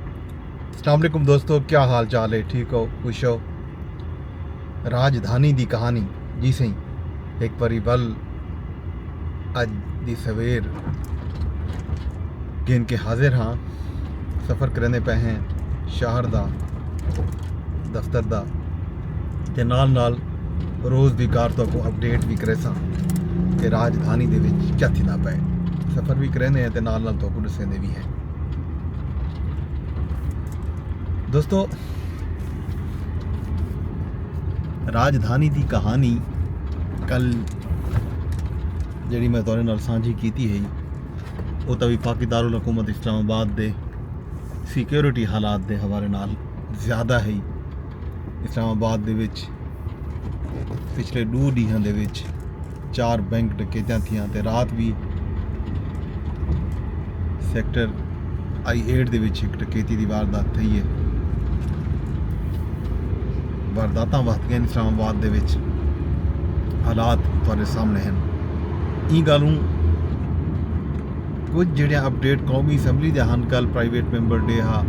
السلام علیکم دوستو کیا حال چال ہے ٹھیک ہو خوش ہو راجدھانی دی کہانی جی سی ایک باری ول اج دی سویر گھن کے حاضر ہاں سفر کرنے پہ ہیں شہر دا دفتر دا تے نال نال روز دی کار تو کو اپڈیٹ بھی کرے ساں کہ راجدھانی دے وچ کیا تھی دا پہ سفر بھی کرنے ہیں تے نال نال تو کو دسے دے بھی ہیں دوستو راجدھانی دی کہانی کل جڑی میں تورے نال سانجھی کیتی ہے وہ تو وفاقی دارالحکومت اسلام آباد دے سیکیورٹی حالات دے حوالے نال زیادہ ہے اسلام آباد دے وچ پچھلے دو ڈیہاں دے وچ چار بینک ڈکیتیاں تھیاں تے رات وی سیکٹر آئی ایٹ دے وچ ایک ڈکیتی دی واردات تھئی ہے وارداتاں وقت گئن اسلام آباد دے وچ حالات تھوڑے سامنے ہیں ای گالوں کچھ جڑیاں اپڈیٹ قومی اسمبلی دے ہن کل پرائیویٹ ممبر ڈے ہا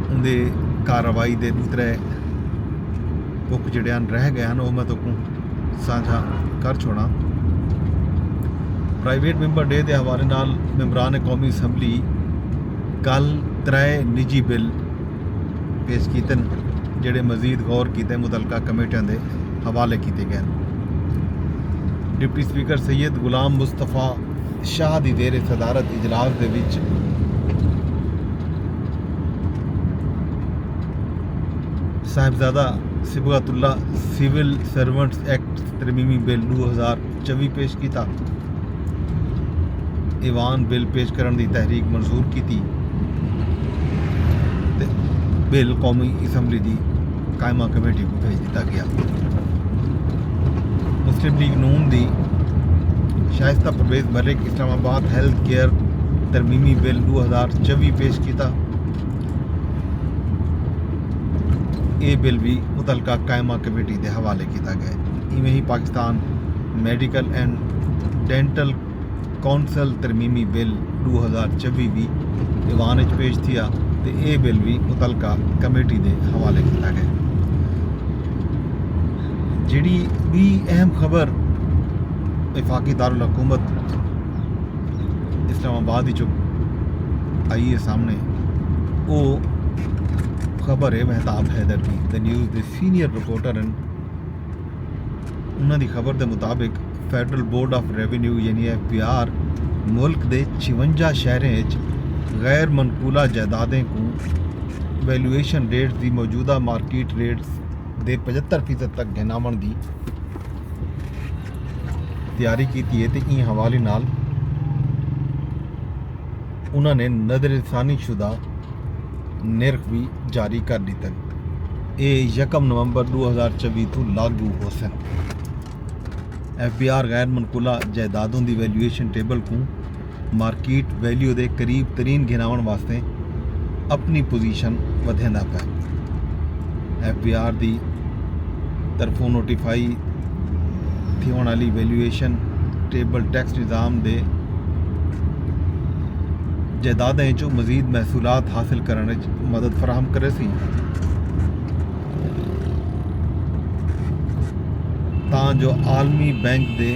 اندے کارروائی دے دوترے بک جڑے ہن رہ گئے ہن او میں تکوں سانجھا کر چھوڑاں پرائیویٹ ممبر ڈے دے حوالے نال ممبران قومی اسمبلی کل ترائے نجی بل پیش کیتن جڑے مزید غور کیتے متعلقہ کمیٹیاں دے حوالے کیتے گئے ڈپٹی سپیکر سید غلام مصطفی شاہ دی دیر صدارت اجلاس دے وچ Sahibzada Sibghatullah civil servants act ترمیمی بل دو ہزار چوی پیش کیتا ایوان بل پیش کرن دی تحریک منظور کیتی تے بل قومی اسمبلی دی قائمہ کمیٹی کو بھیج دیتا گیا مسلم لیگ نون دی شائستہ Parvez Malik Islamabad health care ترمیمی بل دو ہزار چوی پیش کیتا اے بل وی متعلقہ قائمہ کمیٹی دے حوالے کیتا گئے ایویں ہی Pakistan medical and dental council ترمیمی بل ڈو ہزار چوی وی ایوان اچ پیش تھیا تے اے بل وی متعلقہ کمیٹی دے حوالے کیتا گئے جیڑی بی اہم خبر وفاقی دارالحکومت اسلام آباد وچوں آئی ہے سامنے او خبر ہے مہتاب حیدر دی دی نیوز دے سینئر رپورٹر ہیں انہاں دی خبر دے مطابق فیڈرل بورڈ آف ریونیو یعنی ایف بی آر ملک دے چھونجا شہریں اچ غیر منقولہ جائیدادیں کو ویلیویشن ریٹ دی موجودہ مارکیٹ ریٹ دے پچہتر فیصد تک گھناون دی تیاری کیتی ہے تے ایں حوالے نال انہاں نے نظر ثانی شدہ نرخ بھی جاری کر دیتن اے یکم نومبر دو ہزار چوی تو لاگو ہو سن ایف بی آر غیر منقولہ جائیدادوں دی ویلیویشن ٹیبل کوں مارکیٹ ویلیو دے قریب ترین گھناونڑ واسطے اپنی پوزیشن ودھیندا پئے۔ ایف بی آر دی طرفوں نوٹیفائی تھیوݨ والی ویلیویشن ٹیبل ٹیکس نظام دے جائیدادیں وچوں مزید محصولات حاصل کرݨ وچ مدد فراہم کرے سی تاں جو عالمی بینک دے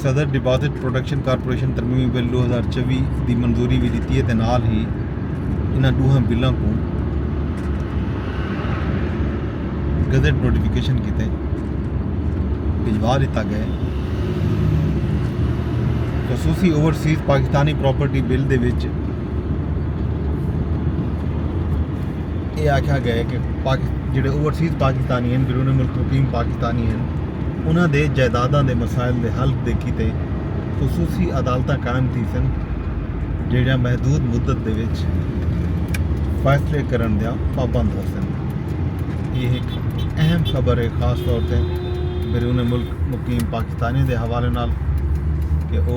صدر ڈپازٹ پروٹیکشن کارپوریشن ترمیمی بل ڈو ہزار چوی دی منظوری وی ڈتی ہے تے نال ہی انہاں ڈوہاں بلاں کوں گزٹ نوٹیفکیشن کیتے بھجوا ڈتا گئے خصوصی اوورسیز پاکستانی پراپرٹی بل دے وچ یہ آکھا گئے کہ جڑے اوورسیز پاکستانی ہیں بیرون ملک مقیم پاکستانی ہیں انہاں دے جائیداداں دے مسائل دے حل دے کیتے خصوصی عدالتاں قائم تھیسن جیہڑیاں محدود مدت دے وچ فیصلے کرݨ دیاں پابند ہوسن۔ ایہ ہک اہم خبر ہے خاص طور تے بیرون ملک مقیم پاکستانیاں دے حوالے نال کہ او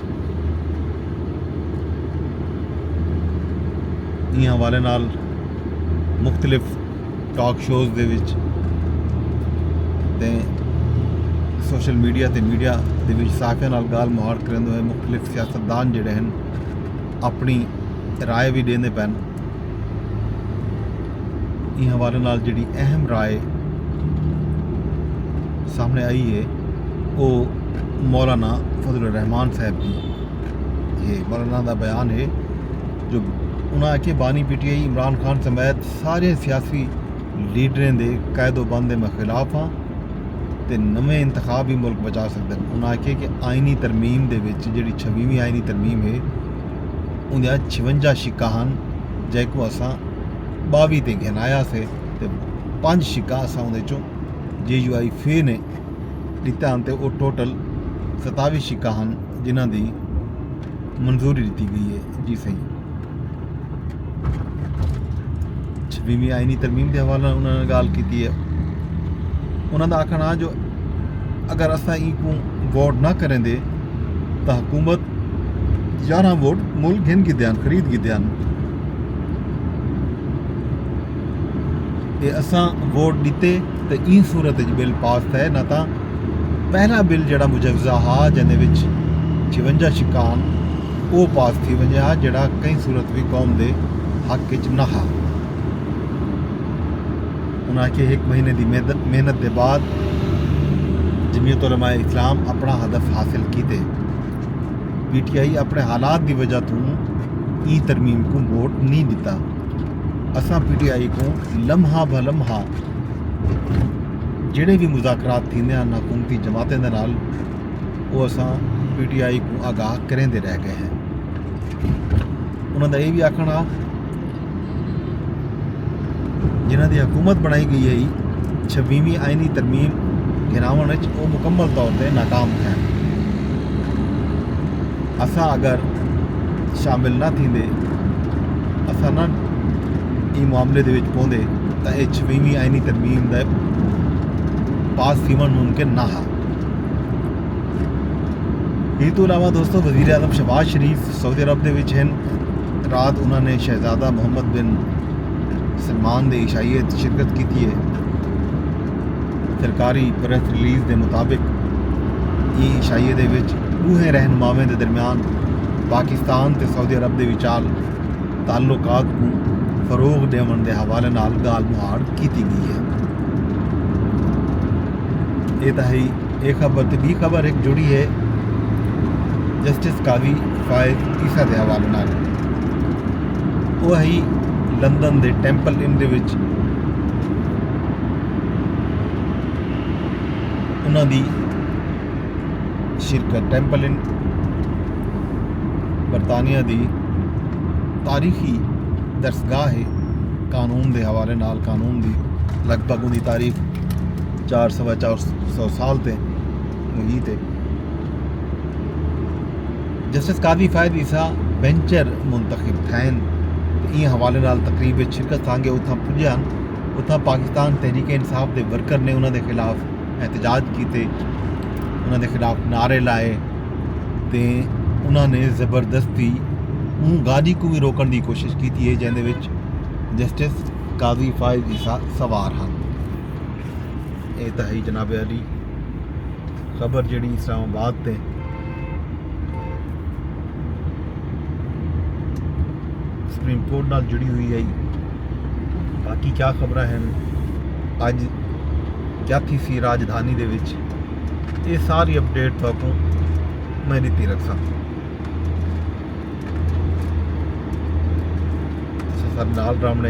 ایں حوالے نال مختلف ٹاک شوز دے وچ تے سوشل میڈیا تے میڈیا دے وچ صحافیاں نال گال مہاڑ کریندے ہوئے مختلف سیاستدان جڑے ہیں اپنی رائے بھی ڈیندے پین ایں حوالے نال جیڑی اہم رائے سامنے آئی ہے وہ مولانا فضل الرحمان صاحب دی ہے مولانا دا بیان ہے جو انہاں آکھے بانی P T I Imran Khan سمیت سارے سیاسی لیڈریں دے قید و بند دے میں خلاف ہاں تے نویں انتخاب ہی ملک بچا سکدے انہاں آکھے کہ آئینی ترمیم دے وچ جیڑی چھویویں آئینی ترمیم ہے اوندیاں چھونجا شکاں ہن جیکوں اساں باوی تے گھن آیا سے تے پنج شکاں اساں اوندے چوں جے یو آئی فے نے ڈتا ہن تے او ٹوٹل ستاوی شکاں ہن جنہاں دی منظوری ڈتی گئی ہے جی سائیں چھویویں آئینی ترمیم دے حوالے نال انہاں نے گال کیتی ہے انہاں دا آکھنا جو اگر اساں ای کوں غور نہ کریں دے تاں حکومت یارھاں ووٹ مل گھن گھدے ہن، خرید گھدے ہن تے اساں ووٹ ݙتے تے ایں صورت وچ بل پاس تھئے نہ تاں پہلا بل جیڑھا مجوزہ ہا جیندے وچ چھونجا شقاں ہن او پاس تھی ونڄے ہا جیڑھا کہیں صورت وی قوم دے حق وچ نہ ہا۔ انہاں آکھیے ہک مہینے دی محنت دے بعد جمیعت علماء اسلام اپݨا ہدف حاصل کیتے۔ پی ٹی آئی اپنے حالات دی وجہ توں ای ترمیم کوں ووٹ نی ڈتا اساں پی ٹی آئی کوں لمحہ بہ لمحہ جڑے بھی مذاکرات تھیندے ہیں حکومتی جماعتیں دے نال وہ اساں پی ٹی آئی کوں آگاہ کریں دے رہ گئے ہیں انہاں دا یہ بھی آکھنا جنہاں دی حکومت بنائی گئی ہئی چھبیویں آئینی ترمیم گراون وچ او مکمل طور تے ناکام تھین اساں اگر شامل نہ تھیندے اساں نہ ایں معاملے دے وچ پوندے تاں اے چھبیویں آئینی ترمیم دے پاس تھیون ممکن نہ ہا ایں تو علاوہ دوستو وزیر اعظم شہباز شریف سعودی عرب دے وچ ہن رات انہاں نے شہزادہ محمد بن سلمان دے عشائیت شرکت کیتی ہے سرکاری پریس ریلیز دے مطابق یہ عشائیے دے وچ اوہے رہنماویں دے درمیان پاکستان تے سعودی عرب دے وچال تعلقات کو فروغ دیون دے حوالے نال گال مہاڑ کیتی گئی ہے یہ تہائی ایک خبر تے بی خبر ایک جڑی ہے جسٹس قاضی فائز عیسیٰ دے حوالے نال وہ ہی لندن دے ٹیمپل ان دے وچ انہاں دی شرکت ٹیمپل ان برطانیہ دی تاریخی درسگاہ ہے قانون دے حوالے نال قانون دی لگ بھگ ان دی تاریخ چار سوا چار سو سال تے ہوئی تے جسٹس قاضی فائد عیسیٰ بینچر منتخب تھین تے این حوالے نال تقریب وچ شرکت سانگے اتھاں پجے ہن اتھاں پاکستان تحریک انصاف دے ورکر نے انہاں دے خلاف احتجاج کیتے انہاں دے خلاف نعرے لائے تے انہاں نے زبردستی اون گاڑی کو بھی روکن دی کوشش کیتی ہے جیندے وچ جسٹس قاضی فائد عیسیٰ سوار ہن اے تاں ہئی جناب عالی خبر جیڑی اسلام آباد تے سپریم کورٹ نال جڑی ہوئی ہے باقی کیا خبر ہیں اج کیا تھی سی راجدھانی دے وچ یہ ساری اپڈیٹ تو کو میں دیتی رکھ سکتا سر نال رامنے